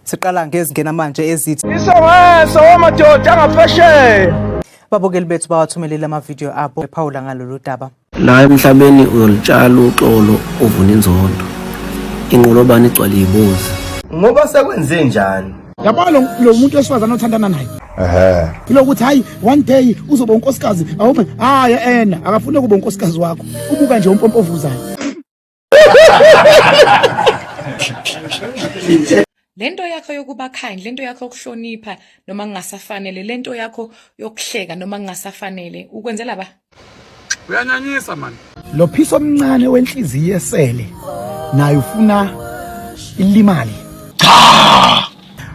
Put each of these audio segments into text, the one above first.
siqala ngezingena manje ezithi isongesa wamadoda angaphesheya babukeli bethu bawathumelele amavidiyo abo ephawula ngalolu daba la emhlabeni uyolitshala uxolo uvuna inzondo inqolobane igcwale yibuzi ngoba sekwenze njani yabona lo muntu wesifazane othandana naye ehe ilokuthi hayi one day uzoba unkosikazi awume hayi ena akafuni ukuba unkosikazi wakho ubuka nje umpompovuzayo lento yakho yokuba kind lento yakho yokuhlonipha noma kungasafanele lento yakho yokuhleka noma kungasafanele ukwenzela ba uyanyanyisa mani lo phiso omncane wenhliziyo esele naye ufuna ilimali cha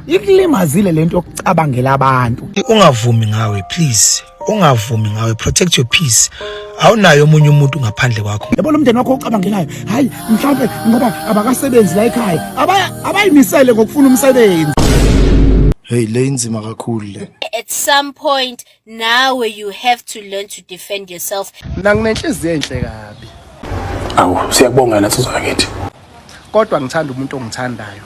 ikulimazile lento yokucabangela abantu ungavumi ngawe please ungavumi ngawe protect your peace awunayo omunye umuntu ngaphandle kwakho yabo lo mndeni wakho ocabangelayo hayi mhlawumbe ngoba abakasebenzi la ekhaya abayimisele ngokufuna umsebenzi hey le inzima kakhulu le at some point Now you have to learn to defend yourself. Mina nginenhliziyo enhle kabi. Awu siyakubonga nathi zakithi. Kodwa ngithanda umuntu ongithandayo.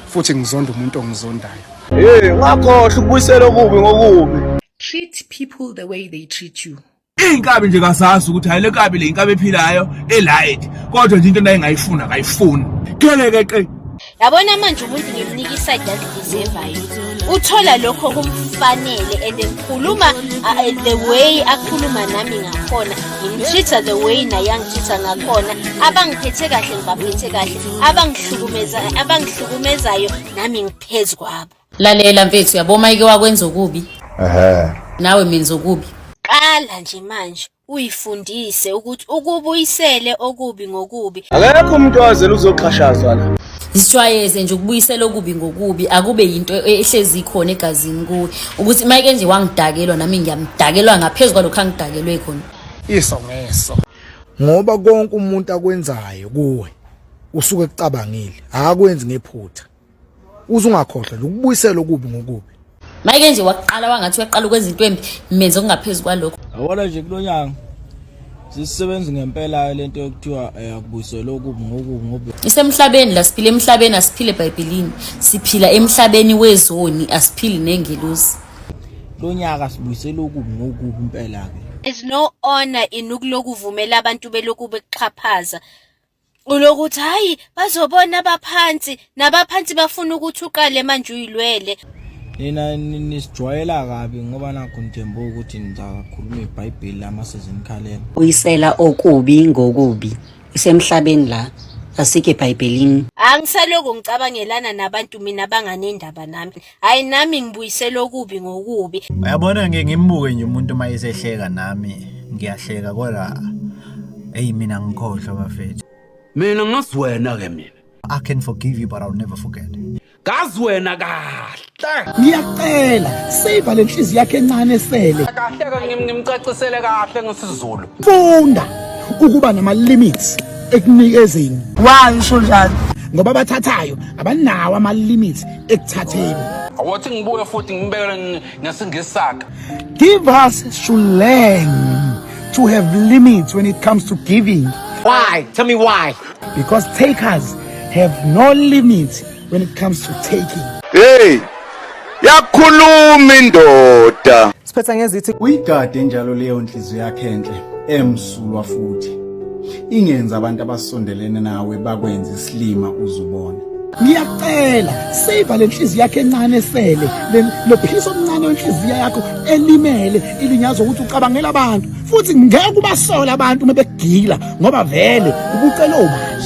Futhi ngizonda umuntu ongizondayo. Hey, ngakhohle ukubuyisela okubi ngokubi. Treat people the way they treat you. Iy'nkabi nje kazazi ukuthi hhayi le nkabi le inkabi ephilayo elight kodwa nje into nayengayifuni akayifuni kelekeqe yabona manje umuntu ngimnika isayidi azideservayo uthola lokho kumfanele and ngikhuluma the way akhuluma nami ngakhona ngimtreat-a the way naye angitreat-a ngakhona abangiphethe kahle ngibaphethe kahle abangihlukumezayo nami ngiphezu kwabo lalela mfethu yabo mayike wakwenza okubi ehe nawe menza okubi qala nje manje uyifundise ukuthi ukubuyisele okubi ngokubi akekho umuntu owazela uzoxhashazwa la zijwayeze nje ukubuyisela okubi ngokubi akube yinto e- ehlezi ikhona egazini kuwe ukuthi mayike nje wangidakelwa nami ngiyamdakelwa ngaphezu kwalokho angidakelwe khona iso ngeso ngoba konke umuntu akwenzayo kuwe usuke ekucabangile akwenzi ngephutha uze ungakhohlwa nje ukubuyisela okubi ngokubi mayike nje waqala wangathi uyaqala ukwenza into embi menze okungaphezu kwalokho yabona nje kulo nyanga sisebenzi ngempela le nto yokuthiwa eh, akubuyisele okubi ngokubi ngobi isemhlabeni la siphila emhlabeni asiphile ebhayibhelini siphila emhlabeni wezoni asiphili nengelosi lo nyaka sibuyisele okubi ngokubi impela-ke is no honor in ukulokhu uvumela abantu belokhu bekuxhaphaza ulokuthi hhayi bazobona abaphansi nabaphansi bafuna ukuthi uqale manje uyilwele nina nisijwayela kabi ngoba nakho ngithembe ukuthi nizakhuluma ibhayibheli lama sezinikhalela uyisela okubi ngokubi isemhlabeni la asike ebhayibhelini angisalokhu ngicabangelana nabantu mina banganendaba nami hayi nami ngibuyisela okubi ngokubi uyabona ngike ngimbuke nje umuntu uma esehleka nami ngiyahleka kodwa eyi mina ngikhohlwa bafethu mina ngazi wena ke mina i can forgive you but i'll never forget ngazi wena kahle ngiyacela save le nhliziyo yakhe encane esele kahle ke ngimcacisele kahle ngesizulu funda ukuba nama limits ekunikezeni why usho njalo ngoba abathathayo abanawo ama limits ekuthatheni awothi ngibuye futhi ngibekele ngesingesaka give us should learn to have limits when it comes to giving why tell me why because takers have no limits when it comes to taking hey yakhuluma indoda Siphetha ngezithi uyigade njalo leyo nhliziyo yakhe enhle emsulwa futhi ingenza abantu abasondelene nawe bakwenza isilima uzubona ngiyacela save le nhliziyo yakhe encane sele lophilisa omncane wenhliziyo yakho elimele ilinyazwa ukuthi ucabangela abantu futhi ngeke ubasola abantu uma begila ngoba vele ubucela ubani